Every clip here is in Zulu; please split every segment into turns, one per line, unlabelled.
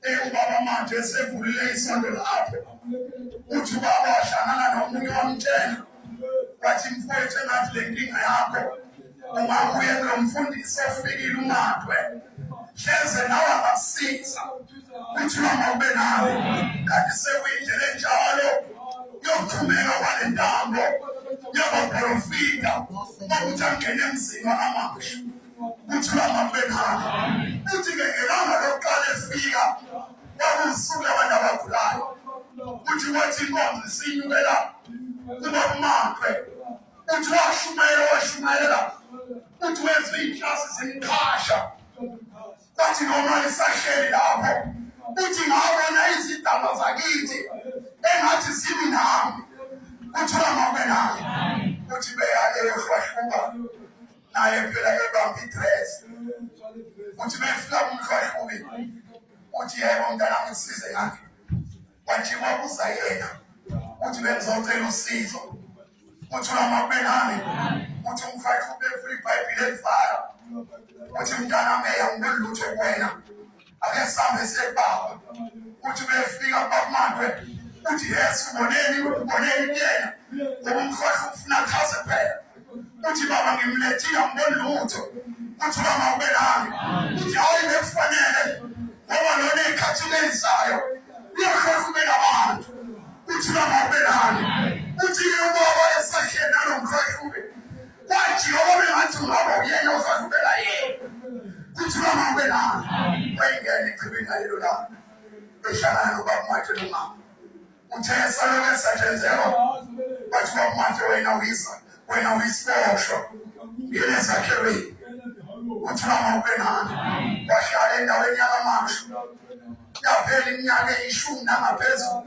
Eh, ubaba manje esevulile isonto lapho uthi ubaba wahlangana nomunye wamtshela wathi mfowethu engathi le nkinga yakho ungabuye kulo mfundisi ofikile umadwe hleze nawe angakusiza kuthiwa mawube nawe kanti sekuyindlela enjalo yokuthumeka kwale ntambo yabaprofita okuthi angene emzini wakamasha kuthiwa makubekhona uthi ke ngelanga lokuqala efika kwakusuku labantu abagulayo uthi wathi inkonzo isinyukela kuba kumakwe uthi washumayela washumayela uthi wenza iy'nhlasi zimqhasha kwathi noma isahleli lapho uthi ngabona izidaba zakithi engathi zimi nami kuthiwa mabenami uthi beya eyohlwahluka naye phela kebamba idress uthi befika kumhlwaye kubi uthi yebo mntana ngisize ngakhe kwathiwa kuza yena uthi bengizocela usizo uthi unamabelane uthi umfathi ubefuna ibhayibhile elifaka uthi mntana meya ngibelutho kuwena ake sihambe siyebaba uthi befika bakumandwe uthi yes uboneni uboneni kuyena ngoba umkhohlwa ufuna chaze phela uthi baba ngimlethile angiboni lutho uthi baba ube nami uthi hayi bekufanele ngoba lona ikhathi lenzayo uyakhohlwa ube nabantu uthi baba ube nami uthi ke ubaba esahleli nalomkhohlwa ube Wathi ngoba bengathi ungaba uyena uzalubela yena. Kuthi mama ube nami. Wayengena echibini ngalelo langa. Behlangana nobaba Mathe nomama. Uthe esalokhu esatshenzelwa. Wathi baba Mathe wena uyisa. Wena uyisibosho. Yena zakhelwe. Uthi mama ube nami. Wahlala endaweni yakamashu. Yaphela iminyaka eyishumi nangaphezulu.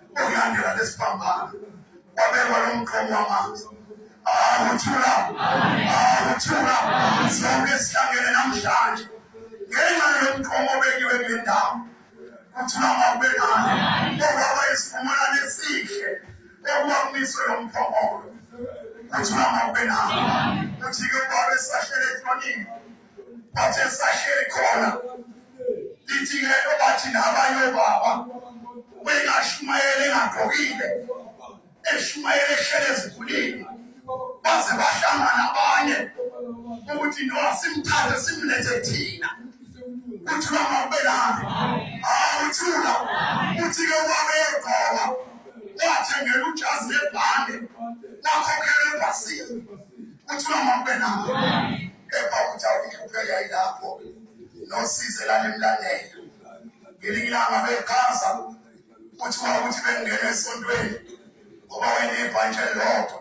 ukulandela lesiphambano wabekwa lo mqomo wamanzi awuthula awuthula sonke sihlangene namhlanje ngenxa yomqomo obekiwe kule ndawo kuthula mawubekani okwaba isivumelwano esihle okuba kumiswe lo mphongolo kuthula mawubenani uthi-ke ubaba esahlele ekhonini bathi esahleli khona lithi ke obathi nabanye obaba ubengashumayela engagqokile eshumayela ehlele ezikhulile baze bahlangana abanye ukuthi no simthathe simlethe thina uthi bangabelani hawu uthula uthi ke ubaba egqoka wathengela ujazi lebhande wakhokhela ebhasini Kuthiwa makube nawo. Kepha ukuthi awukuphela yilapho. Nosize lana emlandela. Ngelinye ilanga bechaza ukuthi wawuthi bengena esontweni ngoba wena ibhantshi elilodwa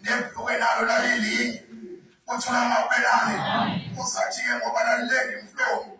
nebhluke nalo lalilinye. Kuthiwa makube nani. Usathi-ke ngoba lalilenge imhlobo.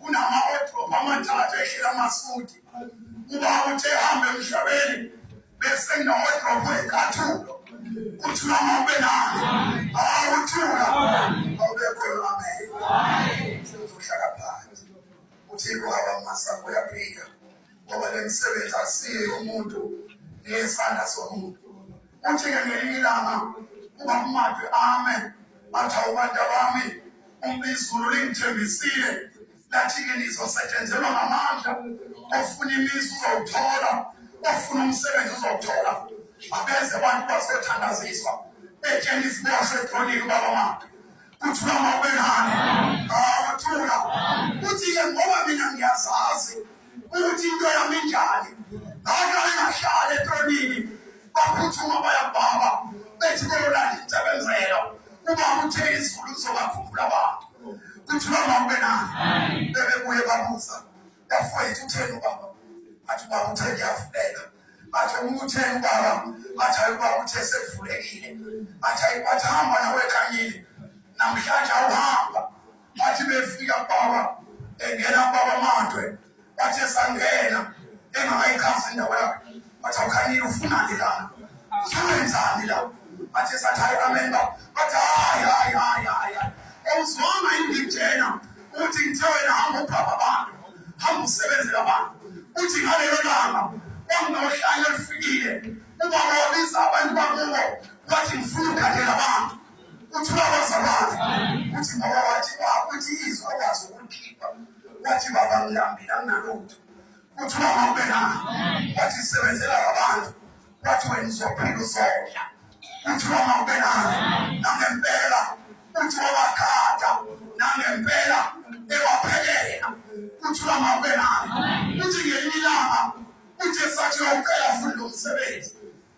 kunama-wardrobe amathathu ehleli amasudi ubaba uthe hambe emhlabeni bese nginawadrobo ekathulo kuthiwa mawube nalo awuthula awubekhona amen sengizohlala phansi uthixo awamasa kuyaphika ngoba le msebenzi asiye umuntu ngesandla somuntu Uthi-ke ngelinye ilanga ubakumadwe ame bathi awubantu abami umbizulu lingithembisile lathi-ke nizosetshenzelwa ngamandla ofuna imizi uzowuthola ofuna umsebenzi uzowuthola abeze abantu bazothandaziswa betshena iziboshwe edronini ubaba makhe kuthula uma ubenani awuthula uthi-ke ngoba mina ngiyazazi ukuthi into yami injani ngaqale ngahlala etonini baphuthuma bayabhaba bethi beyolanda insebenzelo uma uthe izulu zokakhumbula abantu kuthi noma ube nani bebebuye babuza bafowethu utheni ubaba athi ubaba uthe ngiyafuleka bathi umuntu utheni ubaba bathi ayi ubaba uthe sekuvulekile bathi ayi bathi hamba nawe ekhanyile namhlanje awuhamba bathi befika baba engena baba mandwe bathi esangena engakayichazi indawo yakhe bathi awukhanile ufunani lana usebenzani la bathi esathi hayi amen baba bathi hayi hayi hayi hayi awuzwanga indijena uthi ngithe wena hamba ubhaba abantu hamba usebenzela abantu uthi ngalelo langa kwanginohlanya olufikile ubaba wabiza abantu bakubo wathi ngifuna ukukhathela abantu kuthiwa kwazakala ukuthi ngoba wathi wakuthi izwi akwazi ukulikhipha wathi baba ngilambile anginalutho kuthiwa ngawube na wathi sebenzela abantu wathi wena uzophila uzodla kuthiwa ngawube na nangempela kuthiwa wakhada nangempela ewaphelela kuthiwa ngawube na kuthi ngelinye ilanga uthe sathi uyawucela fundi lo msebenzi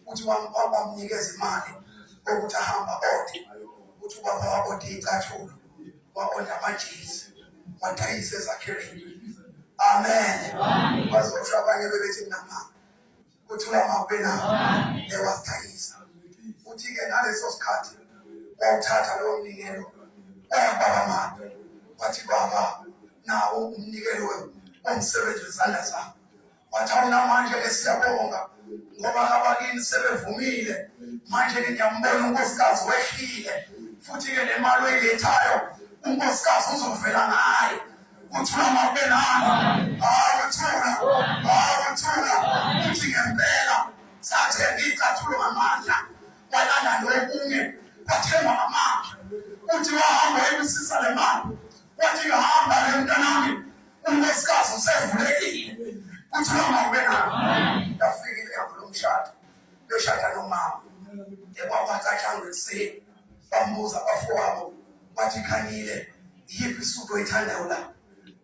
ukuthi wamnikeza imali ukuthi ahamba ode ukuthi ubaba waode icathulo waonda amajezi wadayisa ezakhiweni amen bazosho abanye bebethi nama kuthula mawubena ewadayisa futhi-ke ngaleso sikhathi wawuthatha lowo mnikelo wayababa mali wathi baba nawo umnikelo womsebenzi wezandla zami Wathana namanje ke siyabonga ngoba abakini sebevumile manje ke ngiyambona unkosikazi wehlile futhi ke le mali oyilethayo unkosikazi uzovela ngayo uthula mabenani awuthula awuthula uthi ngempela sathenga icathulo ngamandla walanda lokunye kwathengwa ngamandla uthi wahamba ebusisa le mali wathi ngihamba le mntanami Unesikazi usevulekile. Kuthiwa mawube nabo. Ndafika ihambo lomshado. Loshada nomama. Ekwakwacathanga ekuseni. Bambuza bafowabo. Wathi khanyile. Yiphi isudu oyithandayo la?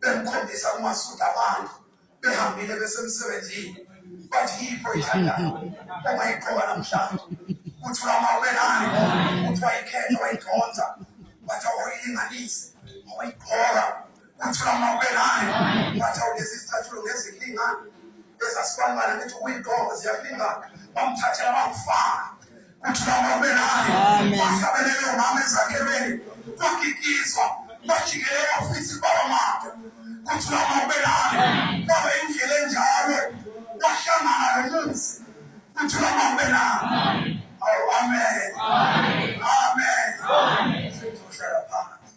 Bemkhombisa umasudu abantu. Behambile besemsebenzini. Wathi yiphi oyithandayo? Uma iqoba namhlanje. Kuthiwa mawube nayo. Kuthiwa ikhetha wayikhonza. Wathi awayilinganise. Awayigqoka. Ngathola umawubelane ngathi awugezi izicathulo ngezilinga ezasibalibala ngithi ukuyigqoka ziyakulingana bamthathela bamfaka kuthi bamawubelane bahlabelele umama ezakhelweni kwagigizwa bajikele ofisi baba mama kuthi bamawubelane baba indlela enjalo wahlangana lomuzi kuthi bamawubelane awu amen amen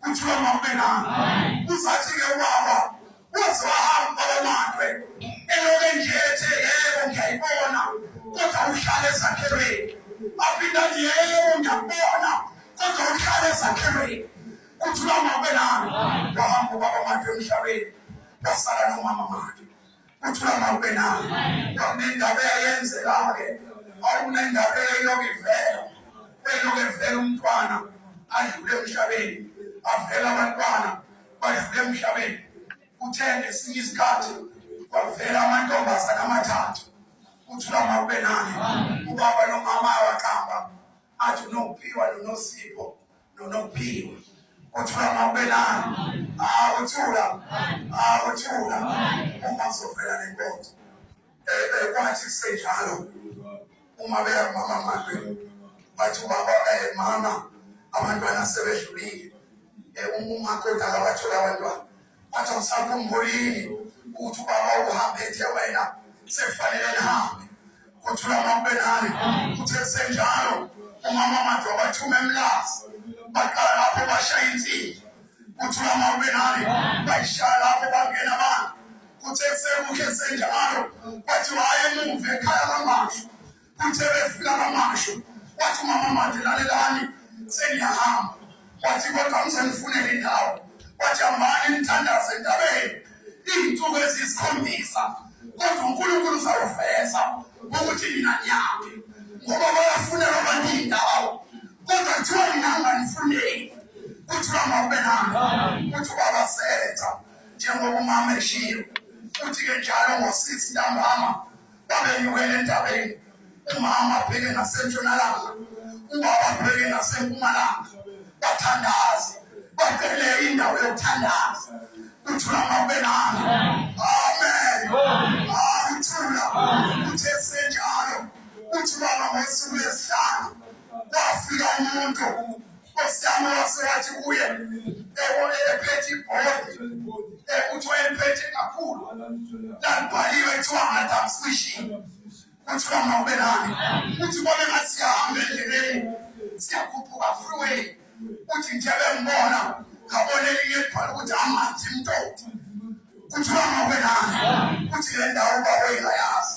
kuthiwa mawubelanga uzathi-ke ubaba waze wahamba babamakwe eloke nje ethe yebo ngiyayibona kodwa uhlale ezakhelweni aphinda athi yebo ngiyakubona kodwa uhlale ezakhelweni kuthiwa mawubelanga wahamba ubabamakwe emhlabeni wasala nomama makhe Kuthiwa mawube nayo. Kwakunendaba eyayenzeka-ke. Kwakunendaba eyayilokhu ivela. Beyilokhu evela umntwana adlule emhlabeni. Avela abantwana badlule emhlabeni. Kuthe ngesinye isikhathi kwavela amantombazane amathathu. Kuthiwa mawube nayo. Ubaba nomama awaqamba athi unophiwa nonosipho nonokuphiwa uthula mawubelani awuthula awuthula uma kuzovela nenkonzo kwathi kusenjalo uma beya kumama makhe bathi ubaba um mama abantwana sebedlulile um umakoti akabatholi abantwana Wathi awusakhumbuli yini ukuthi ubaba uhambe ethe wena sekufanele nihambe kuthula makube nani uthe kusenjalo umama manje wabathuma emlazi baqala lapho bashaya insimbi kuthula makube nani bayishaya lapho bangena abantu kuthe kusemuhle senjalo bathi wayemuva ekhaya kamasho Kuthe befika kamasho wathi umama manje lalelani sengiyahamba wathi kodwa ngisengifunele indawo wathi amani nithandaze endabeni iy'nsuku eziyisikhombisa kodwa unkulunkulu uzawuveza ukuthi nina niyaphi ngoba bayafunela abantu iy'ndawo kodwa kuthiwa nina nganifuneki kuthiwa mawube nani kuthi ubaba senza njengoba umama eshiyo futhi-ke njalo ngosisi ntambama babenyukela entabeni umama abheke ngasentshonalanga ubaba abheke ngasempumalanga bathandaze bacele indawo yokuthandaza kuthula mabelana amen akuthula uthe senjalo uthi baba ngosuku lesihlanu kwafika umuntu Nkosi yami yasengathi kuye ebone ephethe ibhodi ekuthiwa emphethe kakhulu lalibhaliwe kuthiwa madam fishing kuthiwa mawube nami kuthi kube ngathi siyahambe endleleni siyakhuphuka freeway kuthi nje bengibona ngabona elinye libhala ukuthi amanzi mntoto kuthiwa mawube nami kuthi le ndawo baboyingayazi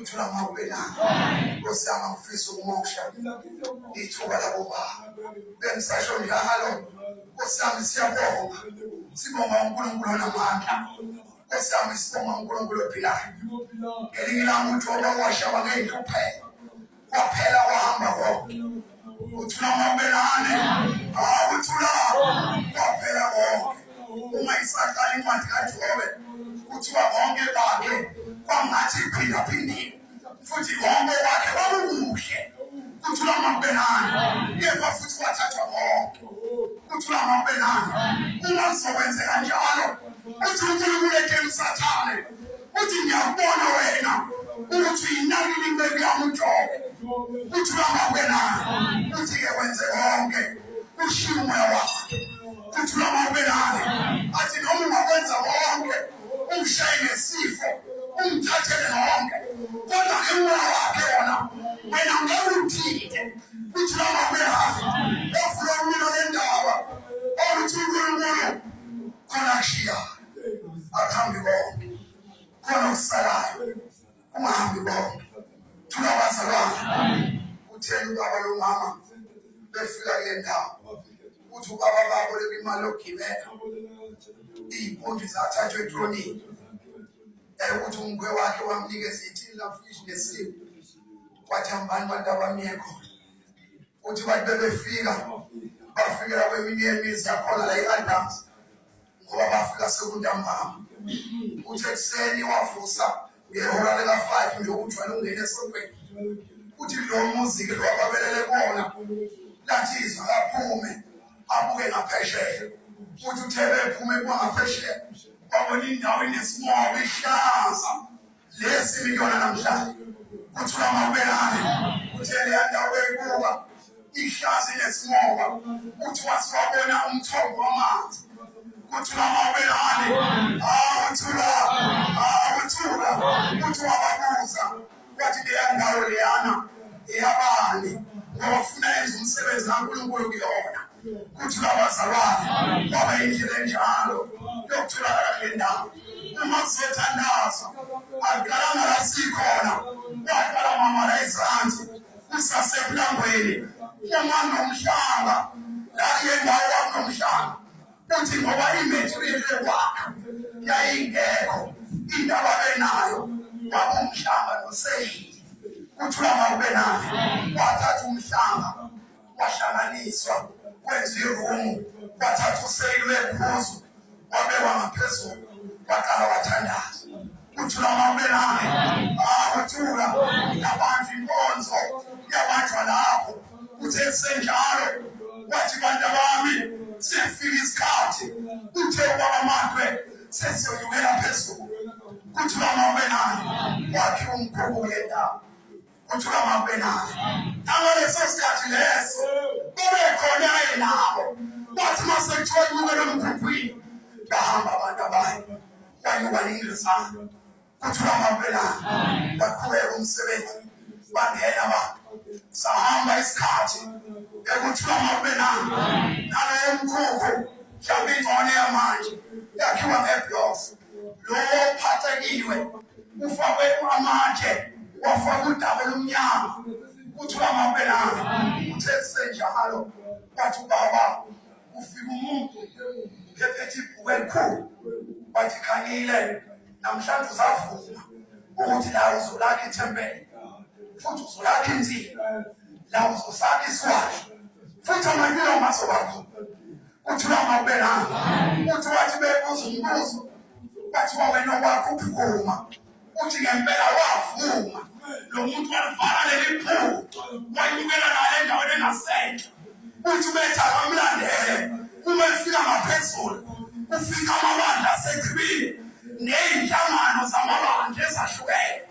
Uthula ngakho belanga. Nkosi yami angifisa ukumoksha. Ithuba labo baba. Bengisasho njalo. Nkosi yami siyabonga. Sibonga uNkulunkulu onamandla. Nkosi yami sibonga uNkulunkulu ophilayo. Ngelinye ilanga uJobe washaba ngey'nhlupheko. Waphela wahamba konke. Uthula mabelane. Awuthula. Waphela konke. Uma isaqala incwadi kaJobe kuthiwa konke bakhe kwangathi phinda phindiwe. Futhi konke bakhe kwakukuhle. Kuthula mabelane. Yebo futhi wathathwa konke. Kuthula mabelane. Uma sizokwenzeka njalo. Uthi uNkulunkulu ethe usathane uthi ngiyakubona wena ukuthi yinani limbeki yami ujobe uthi bangakwenana uthi-ke wenze konke ushiye umoya wakhe uthi bangakwenana athi noma ungakwenza konke umshaye ngesifo umthathele konke kodwa ke umoya wakhe wona wena ngeke uthinte uthi bangakwenana ofuna umina lendaba oluthi unkulunkulu khona kushiyayo akuhambi konke khona okusalayo kungahambi konke thula abazalwane kutheni ubaba lomama befika kule ndawo ukuthi ubaba babo lebimali yokugibela iy'mpundu zathathwa etronini ukuthi umkhwe wakhe wamnikeza ithini lafishi nesimu wathi hambani bantu abamiye khona uthi bantu bebefika bafikela kweminye yemizi yakhona la i-adams ngoba bafika sekuntambama uthi ekuseni wavusa ngehora lika-five nje ukuthwala ungena esontweni uthi lo muziki lo ababelele kona lathi izwa kaphume abuke ngaphesheya futhi uthe bephume kubangaphesheya babona indawo inesimoba ihlaza lesi miliyona namhlanje kuthiwa mawubelani kuthe leya ndawo bekuba ihlazi lesimoba kuthiwa siwabona umthombo wamanzi kuthiwa mawubelani awuthula awuthula kuthiwa babuza kwathi leya ndawo leyana eyabani ngoba funa yenza umsebenzi kankulunkulu kuyona kuthiwa wazalwane kwaba indlela enjalo yokutholakala kule ndawo uma kuzothandaza akalanga la sikhona waqala mama la izansi kusasekulangweni uma nomhlanga la yendawo wakunomhlanga uthi ngoba imaterial yokwakha yayingekho indaba benayo wabumhlanga noseyili kuthula mawube nayo wathatha umhlanga wahlanganiswa kwenza irumu wathatha useyili wephuzu wabekwa ngaphezulu waqala wathandaza uthula mawubelane akuthula yabanjwa inkonzo yabanjwa lapho uthe senjalo wathi bantu bami siyafika isikhathi uthe ubaba mandwe sesiyoyukela phezulu kuthula mawubelane wakhe umkhukhu ngendawo kuthula mabenani nangaleso sikhathi leso bebekhona enabo wathi uma sekuthiwa inyuke nomkhukhwini bahamba abantu abanye banyuka ningezana kuthula mabenani baqhubeka umsebenzi bangena abantu sahamba isikhathi ekuthula mabenani naleyo mkhukhu mhlawumbe ingcone yamanje yakhiwa ngeblokhu lophathekiwe ufakwe amatshe wafaka udaba olumnyama kuthiwa mabelanga uthe senjalo wathi ubaba ufika umuntu phephethe ibhuku elikhulu wathi khangile namhlanje usavuma ukuthi la uzolakha ithempeli futhi uzolakha inzima la uzosakha iswazi futhi amanina masobakhona kuthiwa mawubelanga kuthiwa athi bebuza umbuzo bathiwa wena wakho uphuma uthi ngempela wavuma lo muntu walivala leli phupho wayibukela nayo endaweni engasenhle uthi ubethi akamlandele uma efika ngaphezulu ufika amabandla asechibile ney'nhlangano zamabandla ezahlukene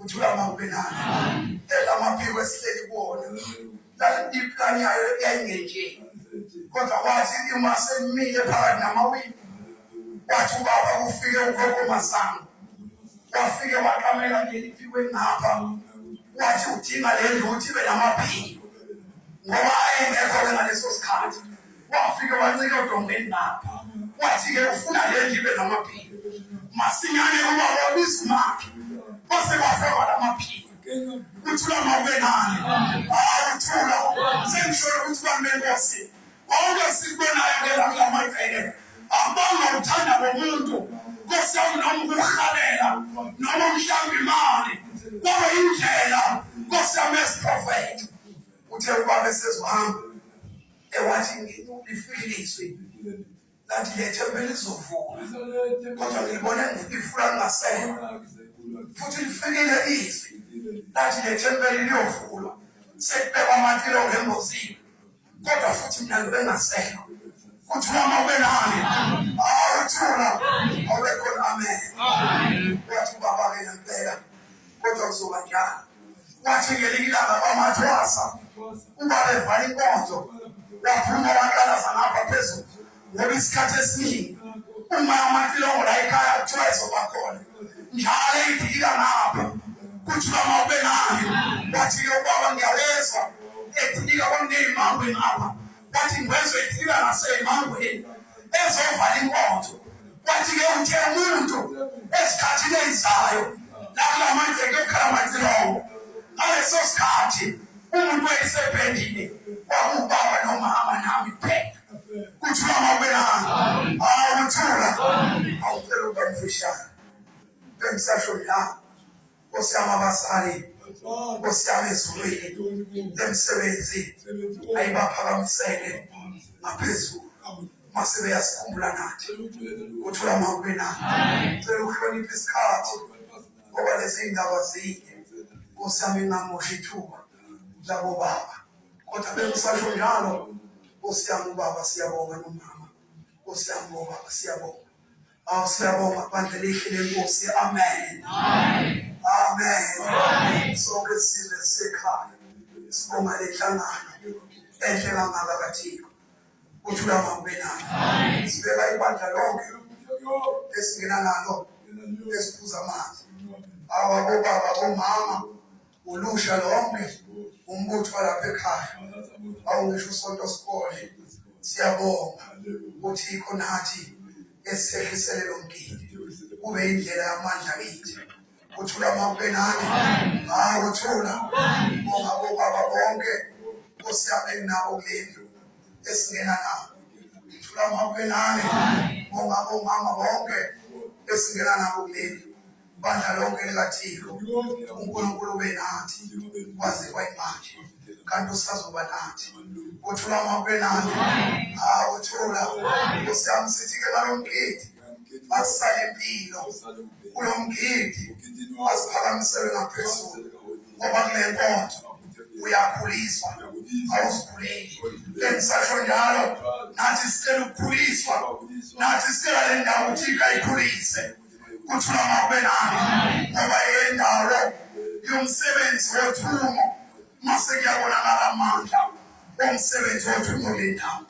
uthulama ubelana elamaphiko esihleli kuwona iplani yayo yayingenje kodwa kwathi uma semile phakathi namawini wathi ubaba kufike ugogo masango wafike waqamela ngeli phiko engapha wathi udinga le ndlu uthi ibe namaphiko ngoba ayengekho-ke ngaleso sikhathi wafike wancika odongeni lapha wathi-ke ufuna le nje ibe namaphiko masinyane ubaba wabizimakhe kwase kwafakwa la maphiko uthula mawubenani hayi uthula sengisholo ukuthi bamenkosi konke sikubonayo ke la kula magceke abanga uthanda komuntu nkosi yami noma ukuhalela noma umhlawumbe imali kwaba indlela nkosi yami esiprofetho uthe ubaba esezohamba ewathi lifikile izwi lathi lethempeli lizovuka kodwa ngilibona ngifuna ngingasekho futhi lifikile izwi lathi lethempeli liyovulwa sekubekwa amatilo ngembozini kodwa futhi mina ngibe ngasekho futhi noma ube nami awuthula awubekhona amen wathi ubaba-ke ngempela kodwa kuzoba njalo wathi ngelinye ilanga kwamathwasa uba bevala inkonzo waphuma waqalaza ngapha phezulu ngoba isikhathi esiningi uma amatilongo la ekhaya kuthiwa ezoba khona njalo eyidikila ngapha kuthiwa mawube nayo wathi-ke ubaba ngiyawezwa edilika kwamneyimangwe ngapha Yathi ngwezwe ifika ngasemangweni ezovala inkonzo. Kwathi-ke uthe umuntu esikhathini ezizayo lakula manje kuyokhala amacilongo ngaleso sikhathi umuntu wayesebhendile kwakubaba nomama nami kuphela kuthiwa mawubelanga awuthula awucela ukuba mfishane bengisasho la Nkosi yami abazali Nkosi yami ezulwini emsebenzi ayibaphakamisele ngaphezulu mase beyasikhumbula nathi uthula makube nathi cela ukuhlonipha isikhathi ngoba lezi ndaba zinde Nkosi yami ingamoshi ithuba labo baba kodwa bengisasho njalo Nkosi yami ubaba siyabonga nomama Nkosi yami ubaba siyabonga Awu siyabonga bandla elihle lenkosi. Amen. Amen. Amen. Sonke sizwe sekhaya. Sibonga le nhlangano enhle kangaka kaThixo. Uthula ngakube nayo. Amen. Sibeka ibandla lonke esingena nalo esiphuza amanzi. Awu abobaba, omama, ulusha lonke umbutho walapha ekhaya awungisho usonto sikole siyabonga ukuthi ikho nathi esihlisele lo mgidi kube indlela yamandla kithi kuthula mawukenani hayi kuthula bonga bobaba bonke osiyabe nabo kule ndlu esingena nabo kuthula mawukenani bonga bomama bonke esingena nabo kule ndlu bandla lonke likathixo unkulunkulu benathi waze kwayimanje kanti usazoba nathi uthula amahwe nathi uthula usiyami sithi ke nalo mgidi asisale impilo kulo mgidi asiphakamiselwe ngaphezulu ngoba kule nkonzo uyakhuliswa awuzikhuleli lengisasho njalo nathi sicela ukukhuliswa nathi sicela le ndawo uthika ikhulise kuthula mawubelani ngoba yendawo yomsebenzi wothumo mase kuyabonakala amandla omsebenzi wothumo lendawo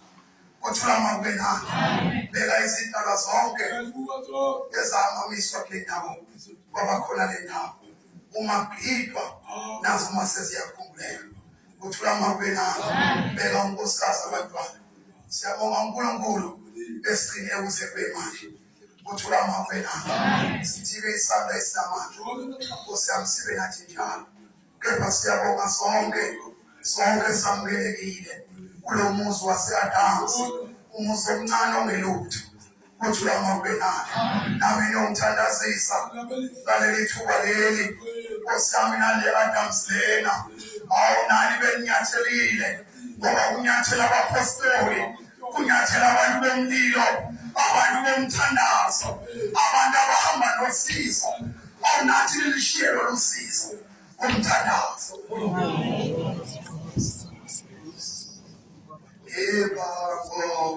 kuthula mawubelani beka izindaba zonke ezamamiswa kule ndawo kwabakhona le ndawo uma kuphidwa nazo uma seziyakhumbuleka kuthula mawubelani beka unkosikazi abantwana siyabonga unkulunkulu esigcine kuze kuyimanje kuthula amavela sithike isandla esinamandla nkosi yami sibe nathi njalo kepha siyabonga sonke sonke samukelekile kulo muzi wase-adams umuzi omncane ongelutho kuthula amavela nami nomthandazisa ngaleli thuba leli nkosi yami nale-adams lena awunani beninyathelile ngoba kunyathela abapostoli kunyathela abantu bomlilo abantu bomthandazo abantu abahamba nosizo awunathi lilishiye lolu sizo umthandazo Eba, oh,